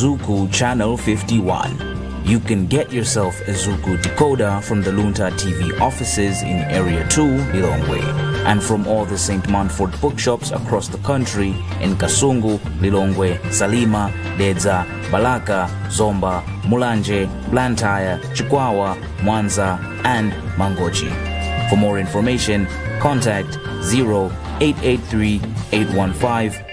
Zuku Channel 51. You can get yourself a Zuku decoder from the Lunta TV offices in Area 2, Lilongwe, and from all the St. Manford bookshops across the country in Kasungu, Lilongwe, Salima, Dedza, Balaka, Zomba, Mulanje, Blantyre, Chikwawa, Mwanza, and Mangochi. For more information, contact 0883 815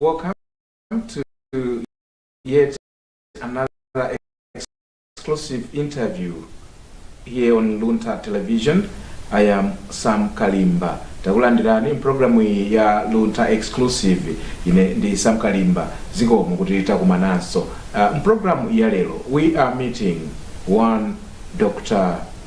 Welcome to yet another exclusive interview here on Luntha Television. I am Sam Kalimba. Takulandirani mu programu ya Luntha Exclusive. Ine ndi Sam Kalimba. Zikomo kuti takumananso. Uh, programu ya lero we are meeting one Dr.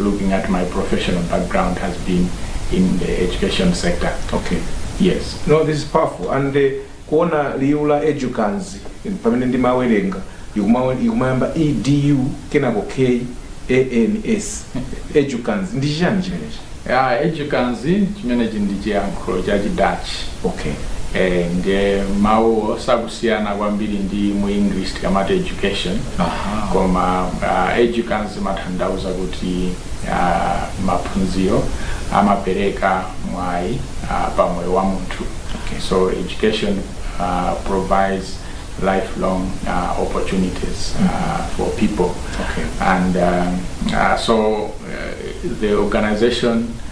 looking at my professional background has been in the education sector. Okay. Yes. No, this is powerful. And kuona liu la edukans pamene ndimawerenga likuma- likumayamba edu kenako k ans edukans ndi chiyani chimenechi Yeah, edukans chimenechi ndi chiyankhulo cha chidachi okay eh, ndiye mawu kusiyana kwambiri ndi mu English tikamati education Aha. koma uh, edukans imatanthauza kuti uh, maphunziro amapereka mwayi uh, pa moyo wa munthu Okay. so education uh, provides lifelong uh, opportunities uh, for people Okay. and um, uh, so uh, the organization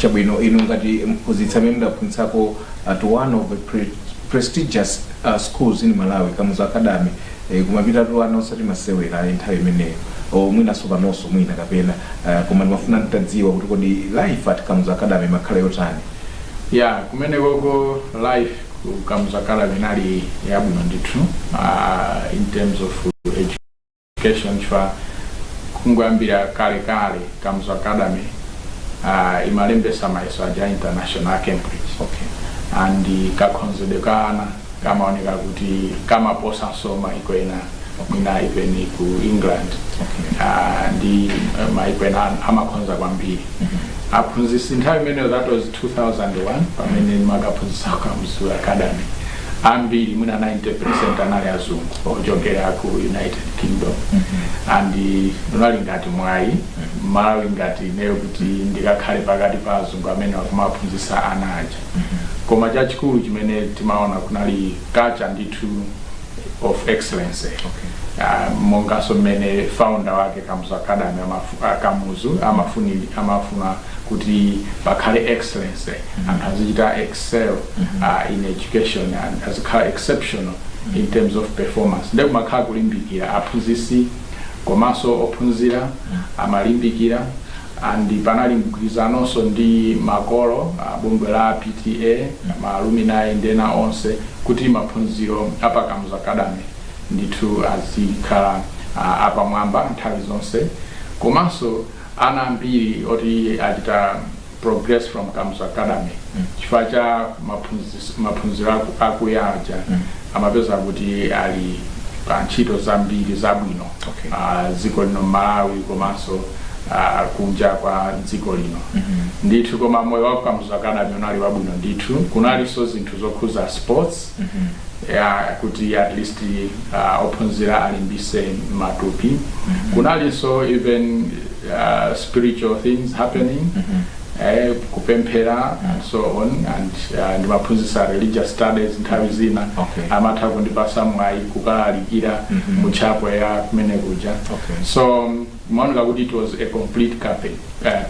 Chabwino, inu ngati mphunzitsi amene mudaphunzitsako at one of the pre prestigious schools in Malawi, Kamuzu Academy, eh, kumapitatu ana osati masewera ayi nthawi imeneyo or mwinanso panonso mwina kapena eh, koma ndimafuna nditadziwa kuti kodi life at Kamuzu Academy imakhala yotani? ya kumene koko life ku Kamuzu Academy inali yabwino ndithu ah, in terms of Education chifukwa kungoyambira kale kale Kamuzu Academy uh, imalembesa mayeso aja international a Cambridge okay. and kakhonzedwe ka ana kamaoneka kuti kamaposanso maiko ena mwina even ku England uh, ndi uh, maiko ena amakhonza kwambiri aphunzisi nthawi imeneyo that was 2001 pamene ndimakaphunzisa Kamuzu Academy ambiri mwina 90% anali azungu ochokera ku united kingdom and unali ngati mwayi mmalawi ngati ineyo kuti ndikakhale pakati pa azungu amene akumaphunzitsa ana aja koma chachikulu chimene timaona kunali culture ndithu of excellence Ah, monganso mmene founder wake kamuzu academy amafu- ah, kamuzu amafuni- amafuna kuti pakhale excellence anthu azichita excel uh, in education and azikhala exceptional in terms of performance nde kumakhala kulimbikira aphunzitsi komanso ophunzira amalimbikira and panali mgwirizanonso ndi makolo abungwe la pta maaluminayi ndi ena onse kuti maphunziro a pa kamuzu academy ndithu azikhala ah, apamwamba nthawi zonse komanso ana ambiri oti achita progress from kamuzu academy chifukwa cha maphunzis- maphunziro aku- akuya aja amapeza kuti ali pa ntchito zambiri zabwino Okay. ah, dziko lino malawi komanso ah, kunja kwa dziko lino ndithu koma moyo wa kamuzu academy unali wabwino ndithu kunalinso zinthu zokhuza sports ya kuti at least uh, ophunzira alimbise matupi kunalinso even uh, spiritual things happening eh, kupemphera and so on and uh, ndimaphunzisa religious studies nthawi zina Okay. amatha kundipasa mwayi kukalalikira mu chapel ya kumene kuja Okay. so imaoneka kuti it was a complete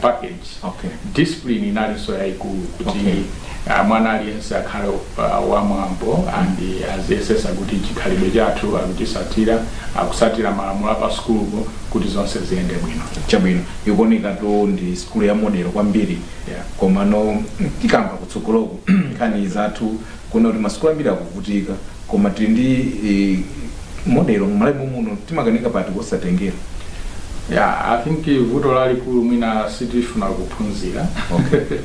package, okay, discipline inalinso yaikulu kuti okay, mwana aliyense akhale wamwambo and aziyesesa kuti chikhalidwe chathu akuchisatira, akusatira malamulo apa sukulupo kuti zonse ziyende bwino. Chabwino, ikuoneka kuti ndi sukulu ya model kwambiri yeah, komano tikamba kutsogoloku nkhani zathu kuona kuti masukulu ambiri akuvutika koma tili ndi eh, model mmalawi mommuno timakanika pati kosatengera Yeah, I think vuto lalikulu mwina sitifuna kuphunzira Okay.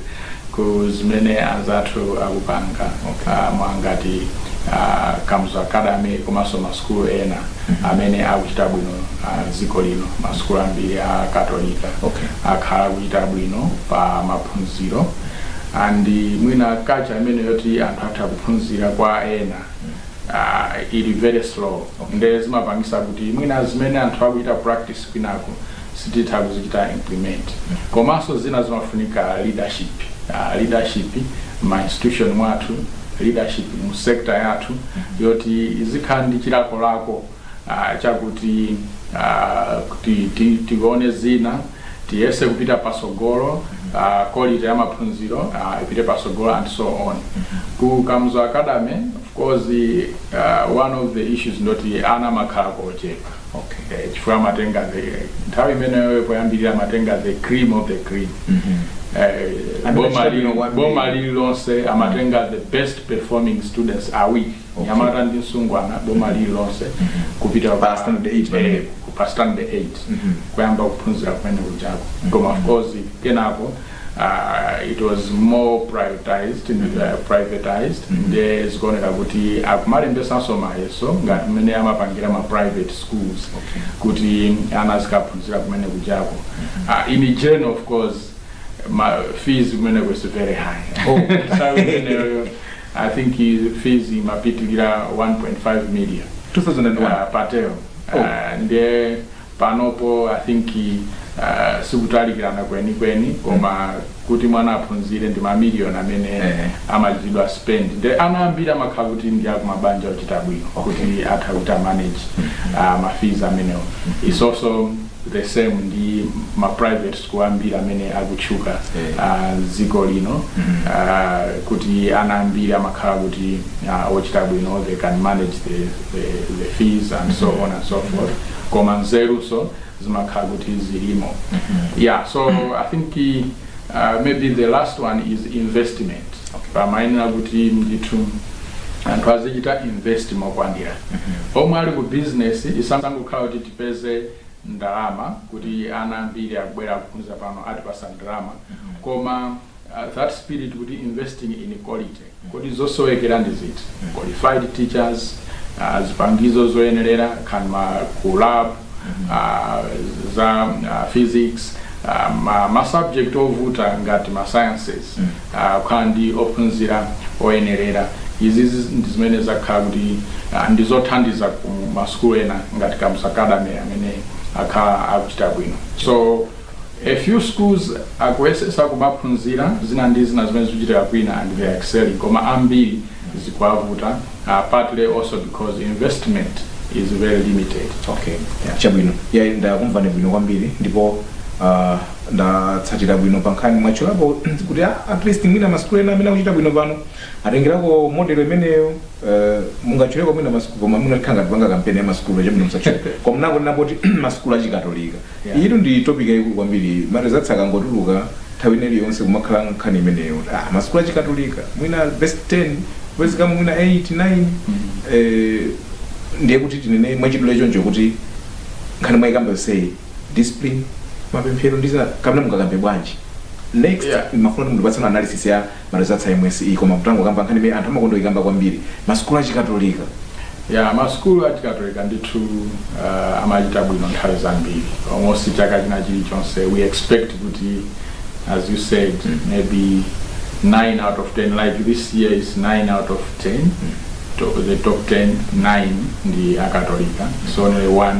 ku zimene anzathu akupanga Okay. Ah, monga ngati ah, Kamuzu Academy komanso masukulu ena amene akuchita bwino ah, dziko lino masukulu ambiri a katolika Okay. akhala akuchita bwino pa maphunziro and mwina culture imene yoti anthu atha kuphunzira kwa ena uh, ili very slow okay. nde zimapangisa kuti mwina zimene anthu akuchita practice kwinako sititha kuzichita implement komanso zina zimafunika leadership uh, leadership ma institution mwathu leadership mu sector yathu yoti izikhala ndi chilakolako uh, chakuti uh, kuti ti- tione zina tiyese kupita pasogolo uh, quality ya maphunziro uh, ipite pasogolo and so on ku kamuzu academy of course uh, one of the issues ndoti ana amakhala kochepa okay. eh, chifukwa amatenga the nthawi imeneyo poyambirira amatenga the cream of the cream eh, Amene boma achita bwino lili- kwambiri. boma lililonse amatenga the best performing students awiri mnyamata ndi msungwana boma lili lonse kupita ku- Pa standard eight pamene. eh, ku- pa standard 8 Mhm. kuyamba kuphunzira kumene kujako koma of course kenako uh, it was more privatized and uh, privatized nde zikuoneka kuti akumalembesanso mayeso ngati mmene amapangira ma private schools Okay. kuti ana azikaphunzira kumene kujako uh, in general of course ma fees kumeneko is very high Oh. Nthawi imeneyo I think fees imapitilira 1.5 million uh, pa term oh. uh, ndiye panopo i think uh, sikutalikirana kwenikweni koma kuti mwana aphunzire ndi mamiliyoni amene Eh. amachitidwa spend nde ana ambiri amakhala kuti ndi akumabanja ochita bwino kuti atha kuti a manage uh, mafees amenewo it's also the same ndi ma private school ambiri amene akutchuka Eh. ah, dziko lino ah, kuti ana ambiri amakhala kuti ah, ochita bwino they can manage the, the, the fees and so on and so forth koma nzeruso zimakhala kuti zilimo yeah so i think uh, maybe the last one is investment pamayenera kuti ndithu anthu azichita invest mokwanira omwe ali ku business isangokhala kuti tipeze ndalama kuti ana ambiri akabwera kuphunzira pano atipasa ndalama koma uh, that spirit kuti investing in quality kodi zosowekera ndi ziti qualified teachers uh, zipangizo zoyenerera kaya ma ku lab uh, za uh, physics uh, ma, ma subject ovuta ngati ma sciences kukhala ndi ophunzira oyenerera. Izi ndi zimene zakhala kuti ndi zothandiza ku ma sukulu ena ngati Kamuzu Academy amene akhala akuchita bwino. So a few schools akuyesesa kumaphunzira zina ndi zina zimene zikuchitika bwino and they are excelling koma ambiri zikuwavuta partly also because investment is very limited. Okay. Yeah. Chabwino. Yayi ndakumvani bwino kwambiri ndipo uh, Ndatsatira bwino pankhani mwatchulapo kuti at least mwina masukulu ena amene akuchita bwino pano atengerako model imeneyo uh, mungatchuleko mwina masukulu koma mwina tikhala ngati tikupanga kampeni ya masukulu chabwino musatchule koma mnangonena poti masukulu achikatolika Yeah. iyitu ndi topic yayikulu kwambiri marezatsi akangotuluka nthawi ina iliyonse kumakhala nkhani imeneyo ah, masukulu achikatolika mwina best 10 kupezekamo mwina 8 9 eh, ndiye kuti tinene mwachidule choncho kuti nkhani mwayikamba yonseyi discipline mapemphero ndi zina kapena mungakambe bwanji next Yeah. ndimafuna kuti mundipatsenso analysis ya ma results a MSCE koma mutangokamba nkhani imene anthu amakonda kuyikamba kwambiri masukulu achikatolika ya masukulu achikatolika ndithu uh, amachita bwino nthawi zambiri almost chaka china chilichonse we expect kuti as you said maybe 9 out of 10 like this year is 9 out of 10 to, the top 10 9 ndi akatolika it's only one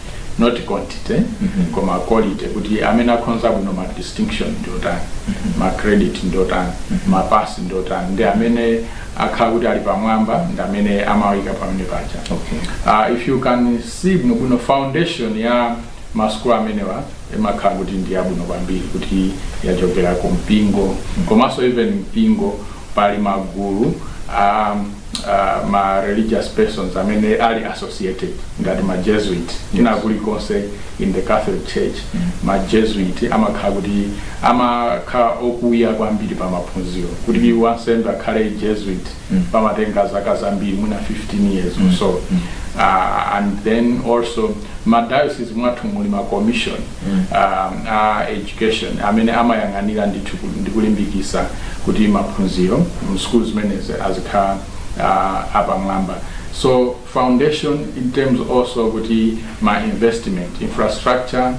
not quantity koma quality kuti amene akhonza bwino ma distinction ndi otani ma credit ndi otani ma pass ndi otani ndi amene akhala kuti ali pamwamba ndi amene amawayika pamene paja uh, if you can see bwino bwino foundation ya masukulu amenewa imakhala kuti ndi yabwino kwambiri kuti yachokera ku mpingo komanso even mpingo pali magulu um, uh, ma religious persons amene ali associated ngati ma jesuit kwina kulikonse in the catholic church ma jesuit amakhala kuti amakhala okuya kwambiri pa maphunziro kuti wansembe akhale jesuit pamatenga zaka zambiri mwina 15 years or so uh, and then also ma diocese mwathu muli ma commission um, a education amene amayang'anira ndithu ku- ndi kulimbikisa kuti maphunziro mu school zimenezi azikhala uh, apamwamba so foundation in terms also kuti ma investment infrastructure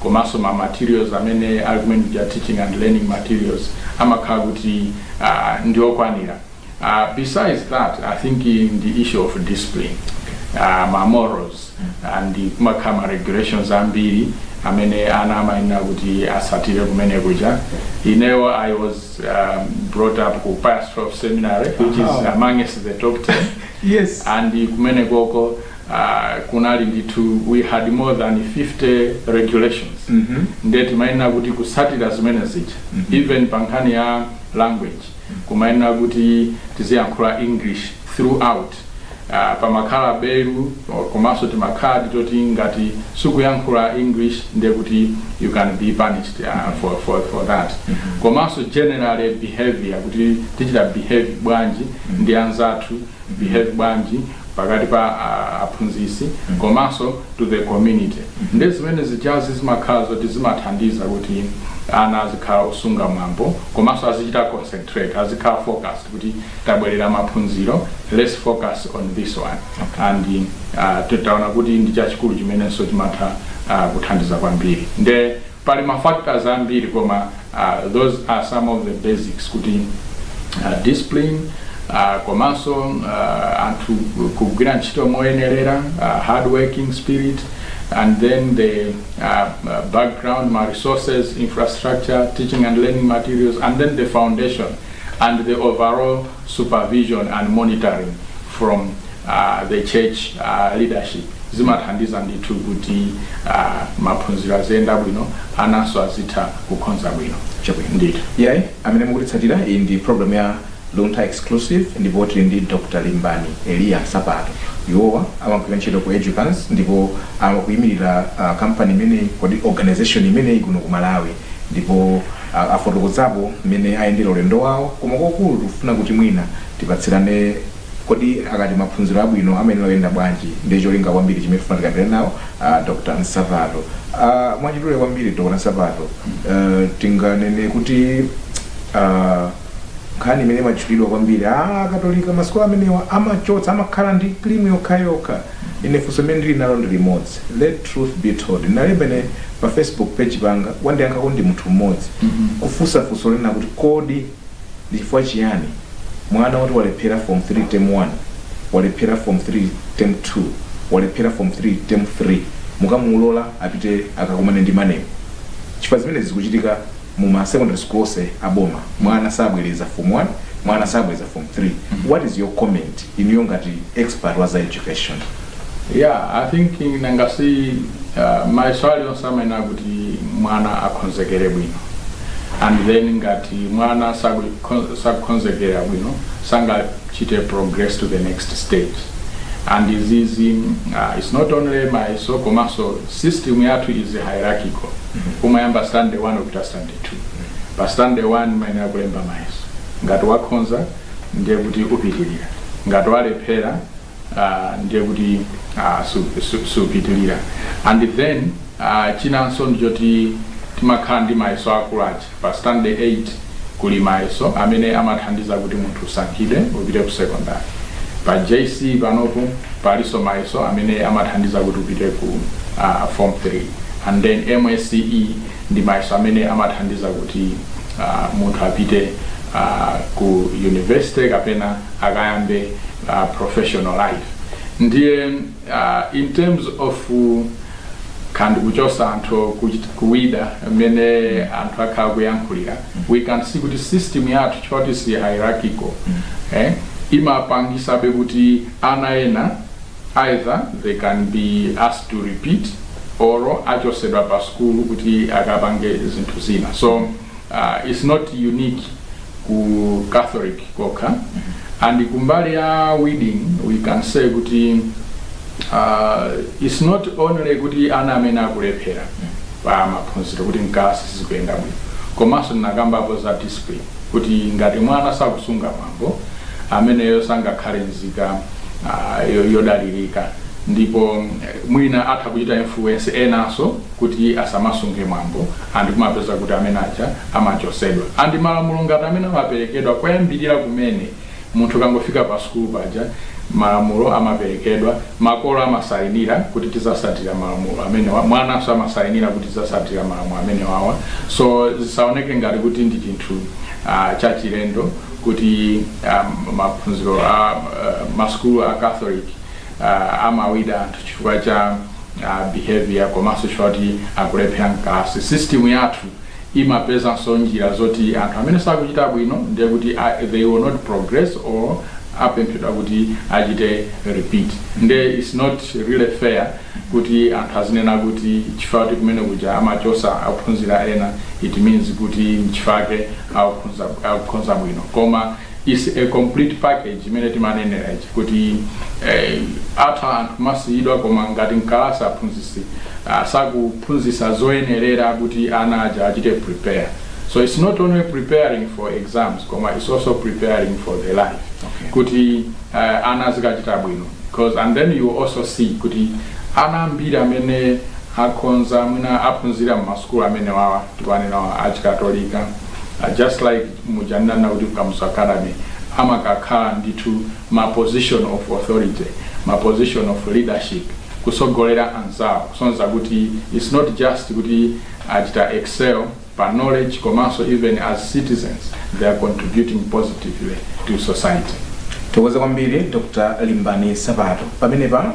komanso ma materials amene ali kumene kuja teaching and learning materials amakhala kuti uh, ndiokwanira besides that i think ndi issue of discipline uh, ma morals and kumakhala ma regulations ambiri amene ana amayenera kuti asatire kumene kuja ineyo i was um, brought up ku Pius 12 seminary which is amongst the top 10 yes and kumene koko uh, kunali ndithu we had more than 50 regulations nde timayenera kuti kusatira zimene zija even pa nkhani ya language kumayenera kuti tiziyankhula English throughout. Uh, pamakhala belu komanso timakhadi toti ngati sukuyankhula English ndiye kuti you can be punished uh, for, for, for that komanso generally behavior kuti tichite behave bwanji ndi anzathu behave bwanji pakati pa a aphunzitsi komanso to the community nde zimene zijazi zimakhala zoti zimathandiza kuti ana azikhala osunga mwambo komanso azichita concentrate azikhala focused kuti tabwerera maphunziro let's focus on this one and uh, titaona kuti ndi chachikulu chimenenso chimatha uh, kuthandiza kwambiri nde pali mafactors ambiri koma Those are some of the basics kuti discipline komanso anthu kugwira ntchito moyenerera, hard working spirit and then the background, ma resources, infrastructure, teaching and learning materials and then the foundation. and the overall supervision and monitoring from uh, the church uh, leadership zimathandiza ndithu kuti uh, maphunziro aziyenda bwino ananso azitha kukhonza bwino Chabwino. ndithu yayi amene mukutitsatira iyi ndi program ya Luntha exclusive ndipo tili ndi dr limbani eliya nsapato iwowa amagwira ntchito ku edukans ndipo amakuyimirira uh, kampani imeneyi kodi organization imeneyi kuno ku malawi ndipo afotokozapo mmene ayendera ulendo wawo koma kwakukulu tikufuna kuti mwina tipatsirane kodi akati maphunziro abwino amayenera kuyenda bwanji ndi cholinga kwambiri chimene tifuna tikambirane nawo a Dr. Nsapato a mwachidule kwambiri Dr. Nsapato tinganene kuti a. Nkhani imene imatchulidwa kwambiri, ah, Akatolika masukulu amenewa amachotsa, amakhala ndi cream yokhayokha. Ine funso limene ndili nalo ndi limodzi. Let truth be told. Ndinalemba ine pa Facebook page panga, wandiyankhako ndi munthu mmodzi, kufunsa funso lonena kuti kodi ndi chifukwa chiyani mwana woti walephera form 3 term 1, walephera form 3 term 2, walephera form 3 term 3, mukamulola apite akakumane ndi maneb? Chifukwa zimenezi zikuchitika. mu ma secondary school onse a boma mwana sabwereza form 1 mwana sabwereza form 3 what is your comment inuyo ngati expert wa za education yeah i think nanga si uh, mayeso alionse amayenera kuti mwana akonzekere bwino and then ngati mwana saku- sakukonzekera bwino sangachite progress to the next stage and izizi uh, it's not only mayeso komanso System yathu is hierarchical umayamba standard 1 upita standard 2 pa standard 1 umayenera kulemba mayeso ngati wakhoza ndiye kuti upitilira ngati walephera uh, ndiye kuti uh, su- su- supitilira and then uh, chinanso ndichoti timakhala ndi mayeso akulu aja Pa standard 8 kuli mayeso amene amathandiza kuti munthu usankhidwe upite ku sekondale. Pa JC panopo palinso mayeso amene amathandiza kuti upite ku form 3 and then MSCE ndi mayeso amene amathandiza kuti munthu apite ku university kapena akayambe professional life. Ndiye. Uh, in terms of khani ya kuchosa anthu kuchit- kuwida mmene anthu akhala akuyankhulira we can see kuti system yathu choti si hierarchical eh, imapangisabe kuti ana ena either they can be asked to repeat or achosedwa pa skulu kuti akapange zinthu zina so uh, it's not unique ku Catholic kokha and kumbali ya weeding we can say kuti uh, it's not only kuti ana amene akulephera pa maphunziro kuti mkalasi sizikuyenda bwino komanso ndinakambapo za discipline kuti ngati mwana sakusunga mwambo ameneyo sangakhale nzika uh, yo- yodalirika ndipo eh, mwina atha kuchita influence enanso kuti asamasunge mwambo and kumapeza kuti amene aja amachosedwa and malamulo ngati amene amaperekedwa koyambilira kumene munthu kangofika pa sukulu paja malamulo amaperekedwa makolo amasayinira kuti tizasatira malamulo amene mwananso amasayinira kuti tizasatira malamulo amenewawa so zisaoneke ngati kuti ndi chinthu uh, chachilendo kuti um, maphunziro a uh, masukulu a catholic uh, amawida anthu chifukwa cha uh, behavior komanso chifukwa kuti akulephera mkalasi system yathu imapezanso njira zoti anthu amene sakuchita bwino ndiye kuti uh, they will not progress or apemphedwa kuti achite repeat nde its not really fair kuti anthu azinena kuti chifukwa kuti kumene kuja amachosa ophunzira ena it means kuti nchifake akukhonza bwino koma is a complete package imene timanenera ija kuti eh, atha anthu kumasiyidwa koma ngati mkalasi aphunzitsi ah, sakuphunzitsa zoyenerera kuti ana aja achite prepare so it's not only preparing for exams koma it's also preparing for the life Okay. kuti uh, ana azikachita bwino because and then you also see kuti ana ambiri amene akhonza mwina aphunzira m'masukulu amene wawa tikunenawa achikatolika uh, just like muja ndinanenera kuti ku Kamuzu Academy amakakhala ndithu ma position of authority, ma position of leadership, kutsogolera anzawo, kusonyeza kuti it's not just kuti achita excel pa knowledge komanso even as citizens they are contributing positively to society. Tithokoze kwambiri Dr. Limbani Nsapato. Pamenepa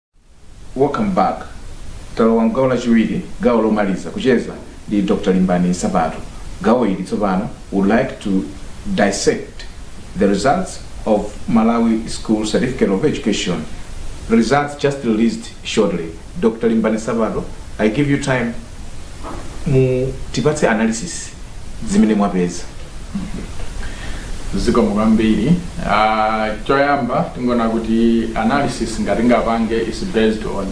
Welcome back talowa mgawo lachiwiri gawo lomaliza kucheza ndi Dr Limbani Nsapato gawo ili tsopano would like to dissect the results of Malawi School Certificate of Education the results just released shortly Dr Limbani Nsapato I give you time mutipatse analysis zimene mwapeza zikomo kwambiri uh, choyamba tingoona kuti analysis ndingapange is based on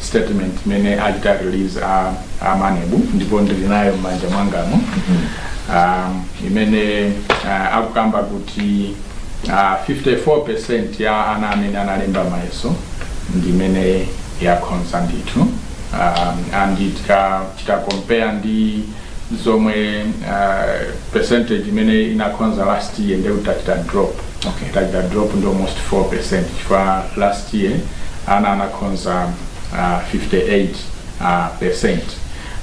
statement imene achita release a, a MANEB ndipo ndili nayo m'manja mwangamu um, imene uh, akukamba kuti uh, 54 percent ya ana amene analemba mayeso ndimene yakhonza ndithu um, and tika, tika compare ndi zomwe uh, percentage imene inakhonza last year nde kuti tachita drop Okay. tachita drop ndi almost 4 percent chifukwa last year ana anakhonza uh, 58 uh, percent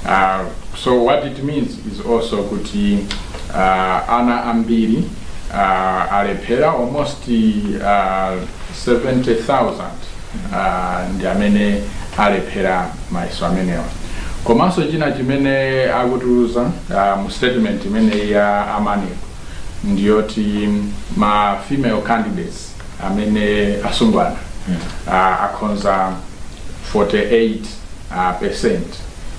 uh, so what it means is also kuti uh, ana ambiri uh, alephera almost uh, 70000 uh, ndi amene alephera mayeso amenewa komanso china chimene akutiuza uh, mu statement imeneyi ya a MANEB ndiyoti ma female candidates amene asungwana uh, akhonza 48 uh, percent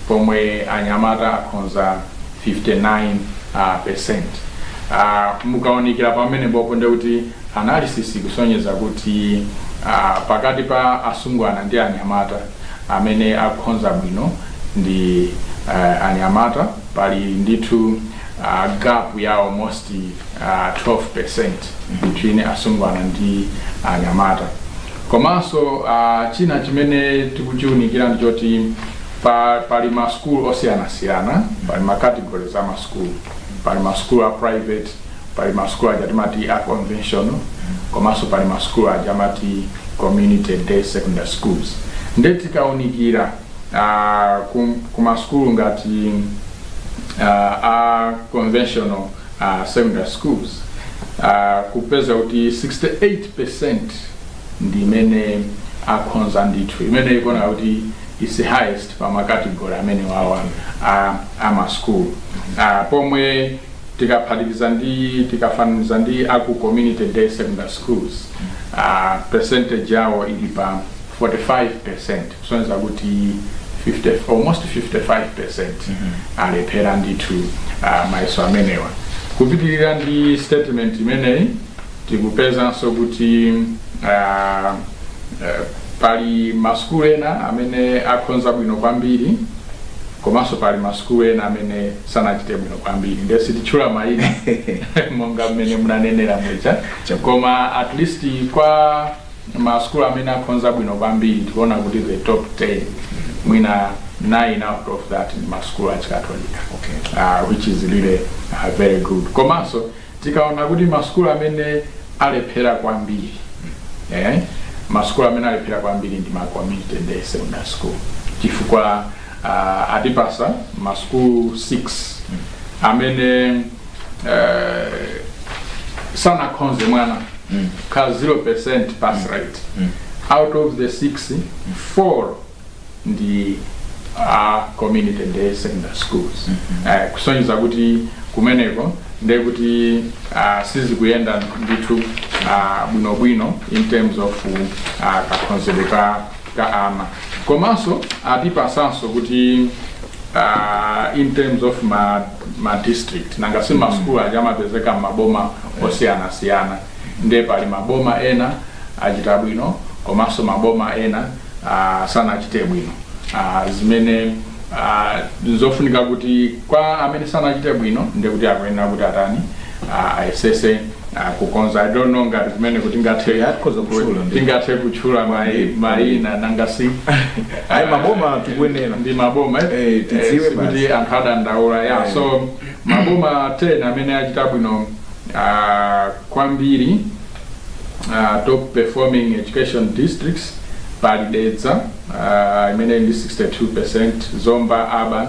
pomwe anyamata akhonza 59 uh, percent uh, mukaonikira pamenepo ndekuti Analysis ikusonyeza kuti pakati pa asungwana ndi anyamata, amene akhonza bwino ndi anyamata pali ndithu gap ya almost 12% between asungwana ndi anyamata. Komanso china chimene tikuchiunikira ndi choti pa pali ma school osiyanasiyana, pali ma categories ama school, pali ma school a private, Pali ma sukulu aja timati a conventional komanso pali ma sukulu aja amati community day secondary schools nde tikaunikira ah, ku, ku ma sukulu ngati uh, a conventional uh, secondary schools uh, kupeza kuti 68% ndi imene akhonza ndithu imene ikuoneka kuti is the highest pa makategori amenewawa a, a ma school uh, pomwe tikaphatikiza tikafananiza ndi aku community day secondary schools uh, percentage yawo ili pa 45 percent kusonyeza kuti 50, almost 55 percent alephera ndithu uh, mayeso amenewa kupitirira ndi statement imeneyi tikupezanso kuti uh, uh, pali masukulu ena amene akhonza bwino kwambiri komanso pali masukulu ena amene sanachite bwino kwambiri ndiye sititchula mayina monga mmene munanenera muja koma at least kwa masukulu amene akhonza bwino kwambiri tikuona kuti the top 10 mwina 9 out of that ndi masukulu achikatolika Okay. uh, which is really uh, very good komanso tikaona kuti masukulu amene alephera kwambiri eh, masukulu amene alephera kwambiri ndi ma community day secondary school chifukwa uh, atipatsa masukulu 6 amene uh, sanakhonze mwana mm. ka 0% pass mm. rate mm. out of the 6 mm. 4 ndi a community day secondary schools mm -hmm. uh, kusonyeza kuti kumeneko ndekuti uh, sizikuyenda ndithu uh, bwinobwino in terms of uh, kakhonzedwe ka ka ana komanso atipasanso kuti uh, in terms of ma, ma district nanga si ma school aja amapezeka m'maboma osiyanasiyana nde pali maboma ena achita bwino komanso maboma ena uh, sanachite bwino uh, zimene uh, zofunika kuti kwa amene sanachite bwino ndekuti akuyenera kuti atani ah, ayesese ah, kukonza i don't know ngati kumene tingathe Yeah, tikhoza kutchula ndi- tingathe kutchula mai- mayina nanga si ayi maboma tikuyenera ndi maboma eh? Eh, tidziwe Eh, sikuti basi. anthu adandaula ya Eh. so maboma 10 amene achita bwino ah, kwambiri ah, top performing education districts pali dedza ah, imene ndi 62% zomba urban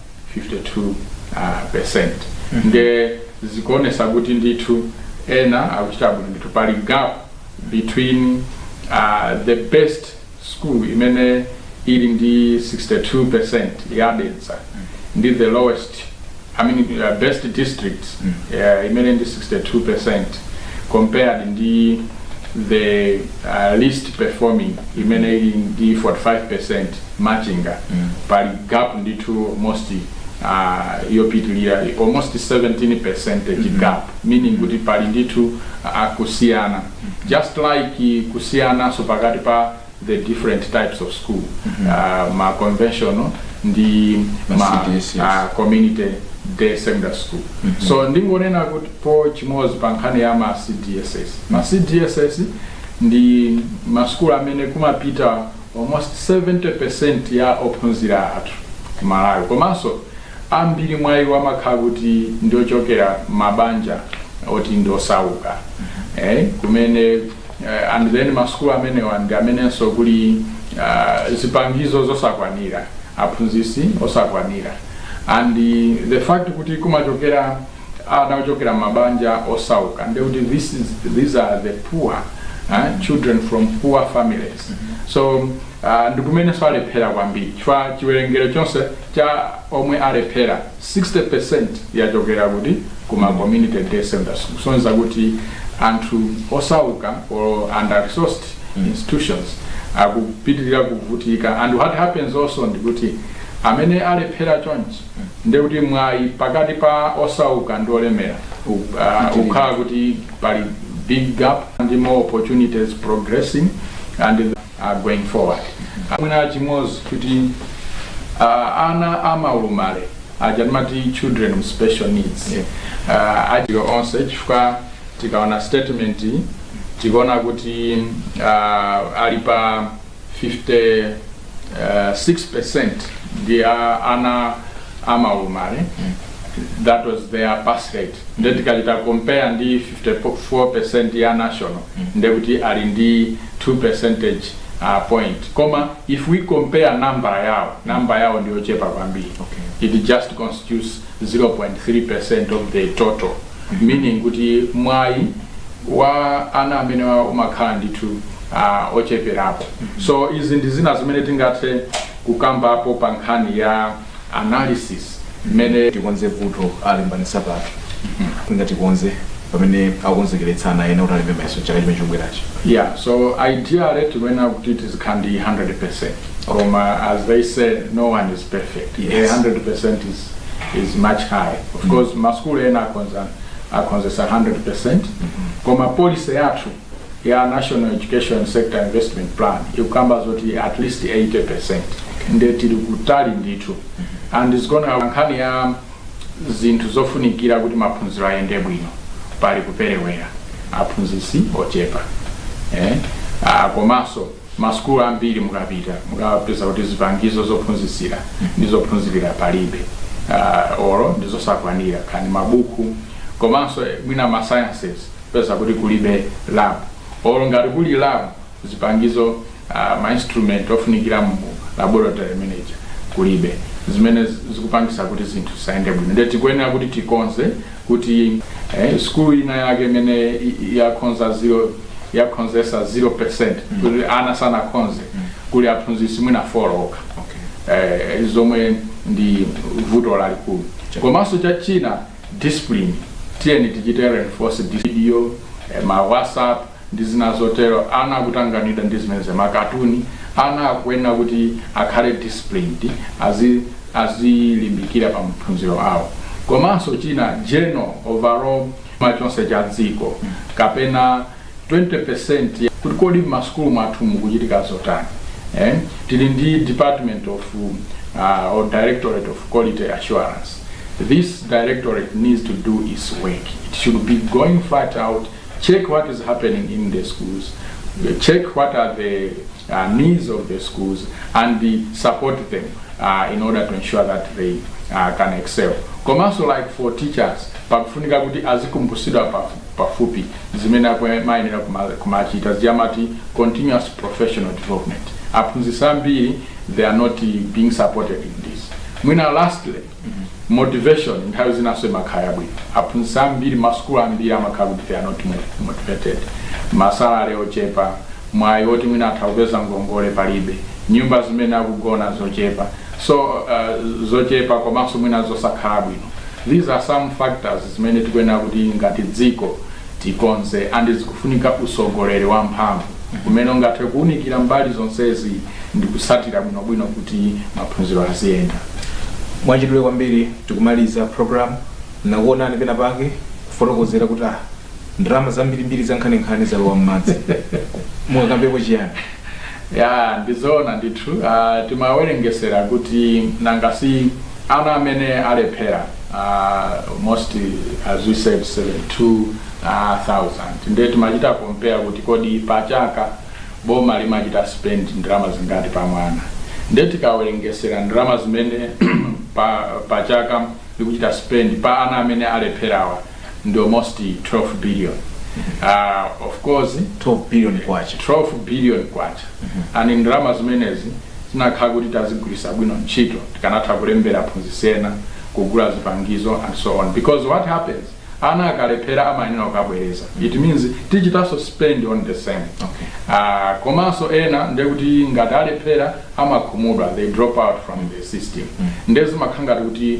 52% nde zikuonesa kuti ndithu ena akuchita bwino ndithu pali gap between uh, the best school imene ili ndi 62% ya Dedza ndi the lowest I mean, uh, best district uh, imene ndi 62% compared ndi the uh, least performing imene ili ndi 45% Machinga pali gap ndithu almost uh, yopitilira almost 17 percentage gap meaning kuti pali ndithu uh, kusiyana just like kusiyananso pakati pa the different types of school uh, ma conventional ndi Ma ma CDSS. uh, community day secondary school so ndingonenapo chimodzi pa nkhani ya ma cdss ma cdss ndi maskulu amene kumapita Almost 70% ya ophunzira athu ku Malawi komanso ambiri mwa iwo amakhala kuti ndi ochokera m'mabanja oti ndi osauka eh, kumene eh, and then masukulu amenewo ndi amenenso kuli ah, zipangizo zosakwanira aphunzitsi osakwanira and the fact kuti kumachokera ana ochokera m'mabanja osauka ndekuti this is, these are the poor eh, children from poor families so uh, ndikumenenso alephera kwambiri chifukwa chiwerengero chonse cha omwe alephera 60% yachokera kuti kuma community day secondary school kusonyeza kuti anthu osauka or under resourced institutions akupitirira kuvutika and what happens also ndikuti amene alephera chonchi ndekuti mwayi pakati pa osauka ndi olemera u- ah, ukhala kuti pali big gap ndi more opportunities progressing and uh, going forward mwina chimodzi kuti uh, ana amaulumale aja timati children with special needs Yeah. uh, ajiwa onse chifukwa tikaona statement iyi, tikaona kuti uh, ali pa 50 uh, 6% ndi a- ana amaulumale that was their pass rate nde tikachita compare ndi 54% ya national nde kuti ali ndi 2 percentage uh, point koma if we compare number yawo number yawo ndiyochepa kwambiri Okay. it just constitutes 0.3% of the total meaning kuti mwayi wa ana amene umakhala ndithu uh, ocheperapo mm -hmm. so izi ndi zina zimene tingathe kukambapo pa nkhani ya analysis mmene tikonze vuto alembanisa pathu ngati tikonze pamene akonzekeretsa ana ena kuti alembe mayeso chaka chimene chikubwerachi yeah so ideally tikuyenera kuti tizikhala ndi 100% koma as they say no one is perfect Yes. 100 is is much high of mm. course maskulu ena akhonza akhonzesa 100% mm-hmm. koma policy yathu ya national education sector investment plan ikukamba zoti at least 80% nde tili kutali ndithu mm-hmm. and is gonna nkhani ya zinthu zofunikira kuti maphunziro ayende bwino pali kuperewera aphunzitsi ochepa eh? ah, komanso Masukulu ambiri mukapita mukapeza kuti zipangizo zophunzitsira ndi zophunzirira palibe or ndi zosakwanira kaya ndi mabuku komanso mwina ma sciences kupeza kuti kulibe lab or ngati kuli lab zipangizo ma instrument ofunikira mu laboratory mmenemuja kulibe zimene zikupangitsa kuti zinthu zisayende bwino ndiye tikuyenera kuti tikonze kuti eh, sukulu ina yake imene yakhonza zero yakhonzesa 0% mm. kuti ana sanakhonze mm. kuli aphunzitsi mwina folo okha okay. eh, zomwe ndi vuto lalikulu komanso cha china discipline tiyeni tichite reinforce discipline eh, ma whatsapp ndi zina zotero, ana akutanganidwa ndi zimenezo, makatuni, ana akuyenera kuti akhale disciplined, azi, azilimbikira pa maphunziro awo. Komanso china, general, overall, ma chuma chonse cha dziko, kapena 20% ya, kuti kodi m'masukulu mwathu mukuchitika zotani, eh, tili ndi Department of, uh, or Directorate of Quality Assurance, this directorate needs to do its work, it should be going flat out, Check what is happening in the schools, check what are the uh, needs of the schools and support them uh, in order to ensure that they uh, can excel. Komanso like for teachers, pakufunika kuti azikumbusidwa pafu- pafupi zimene akwe- mayenera kuma- kumachita ziyamati continuous professional development. Aphunzitsi ambiri they are not uh, being supported in this. Mwina lastly, Motivation nthawi zinanso imakhala yabwino. Aphunzitsi ambiri masukulu ambiri amakhala kuti they are not motivated. Ma salary ochepa, mwayi woti mwina atha kupeza ngongole palibe, nyumba zimene akugona zochepa so uh, zochepa komanso mwina zosakhala bwino. These are some factors zimene tikuyenera kuti ngati dziko tikonze and zikufunika usogoleri wamphamvu umene ungathe kuunikira mbali zonsezi ndikutsatira bwinobwino kuti maphunziro aziyenda mwachidule kwambiri tikumaliza program ndakuonani pena pake kufotokozera kuti ah ndalama zambirimbiri zankhaninkhani zalowa m'madzi mungakambepo chiyani ya ndizoona ndithu uh, timawerengesera kuti nanga si ana amene alephera uh, most as we said 72,000 uh, nde timachita compare kuti kodi pachaka boma limachita spend ndalama zingati pa mwana nde tikawerengesera ndalama zimene pa, pa chaka likuchita spend pa ana amene alepherawa ndi almost 12 billion uh, of course 12 billion kwacha 12 billion kwacha and ndalama zimenezi zinakhala kuti tazigwiritsa bwino ntchito tikanatha kulembera aphunzitsi ena kugula zipangizo and so on because what happens ana akalephera amayenera kukabwereza it means tichitanso spend on the same Okay. Ah, komanso ena ndekuti ngati alephera amakhumudwa they drop out from the system nde zimakhala ngati kuti